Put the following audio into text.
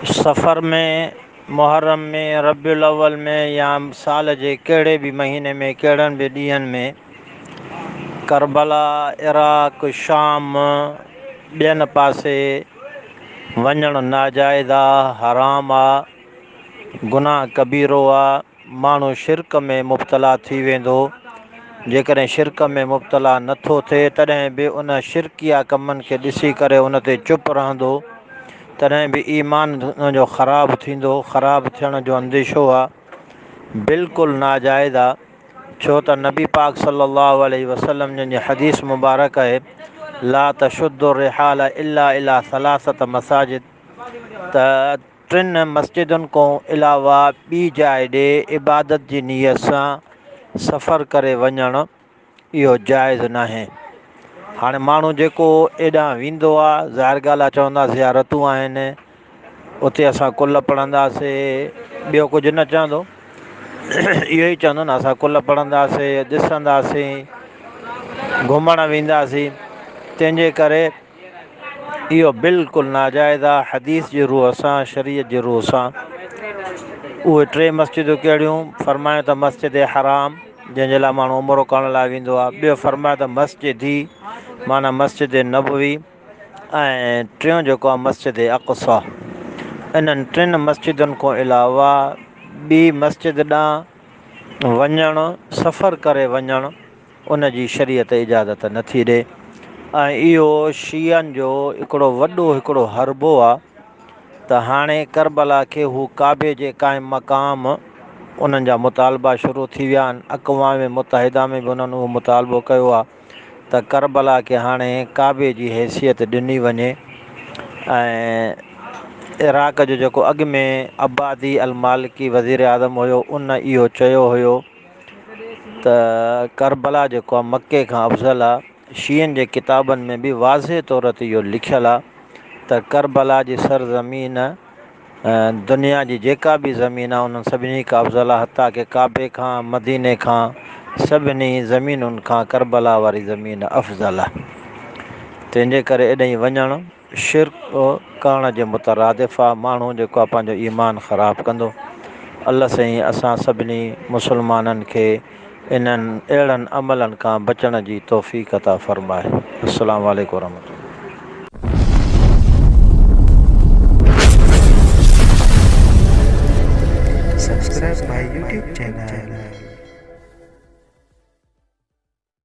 صفر ۾، محرم ۾، ربيع الاول ۾ يا سال جي ڪهڙي به مهيني ۾ ڪهڙن به ڏينهن ۾ ڪربلا، عراق، شام، ٻين پاسي وڃڻ ناجائز آ، حرام آ، گناهه ڪبيرو آ. ماڻهو شرڪ ۾ مبتلا ٿي ويندو، جيڪڏهن شرڪ ۾ مبتلا نه ٿو ٿئي تڏهن به ان شرڪيه ڪمن کي ڏسي ڪري ان تي چپ رهندو تڏهن به ايمان ان جو خراب ٿيندو، خراب ٿيڻ جو انديشو آ بلڪل ناجائز آ ڇو ته نبي پاڪ صلي الله عليه وسلم جن جي حديث مبارڪ آهي لا تشد الرحال الا الي ثلاثة مساجد ته ٽن مسجدن کون علاوه ٻي جاء ڏي عبادت جي نيت سان سفر ڪري وڃڻ اهو جائز ناهي هاڻي ماڻهو جيڪو ايڏانهن ويندو آ ظاهر ڳالهه آ چوندا زيارتون آهن اتي اسان ڪل پڙهنداسي ٻيو ڪجهه نه چوندو اهو ئي چوندو نه اسان ڪل پڙهنداسي ڏسنداسي گهمڻ وينداسي تنهنجي ڪري اهو بلڪل ناجائز آ حديث جي روح سان شريعت جي روح سان اهي ٽي مسجدون ڪهڙيون فرمايو ته مسجد حرام جنهن جي لاء ماڻهو عمرو ڪرڻ لاء ويندو آ ٻيو فرمايو ته مسجد دي معنيٰ مسجد نبوي ۽ ٽيون جيڪو آ مسجد اقصا انهن ٽن مسجدن کان علاوه ٻي مسجد ڏانهن وڃڻ سفر ڪري وڃڻ ان جي شريعت اجازت نه ٿي ڏي ۽ اهو شيعن جو هڪڙو وڏو هڪڙو حربو آ ته هاڻي ڪربلا کي هو ڪعبي جي قائم مقام انهن جا مطالبا شروع ٿي ويا آهن اقوام متحده ۾ به انهن اهو مطالبو ڪيو آ ته ڪربلا کي هاڻي ڪعبي جي حيثيت ڏني وڃي ۽ عراق جو جيڪو اڳ ۾ عبادي المالڪي وزيراعظم هيو ان اهو چيو هيو ته ڪربلا جيڪو آ مڪي کان افضل آ، شيعن جي ڪتابن ۾ به واضح طور تي اهو لکيل آ ته ڪربلا جي سرزمين دنيا جي جيڪا به زمين آ انهن سڀني کان افضل آ حتيٰ ڪه ڪعبي کان مديني کان سڀني زمينن کان ڪربلا واري زمين افضل آ تنهنجي ڪري اڏهين وڃڻ شرڪ ڪرڻ جي مترادف آ ماڻهو جيڪو آ پنهنجو ايمان خراب ڪندو الله سائين اسان سڀني مسلمانن کي انهن اهڙن عملن کان بچڻ جي توفيق عطا فرمائي السلام عليڪم ورحمة الله. Subscribe my YouTube channel.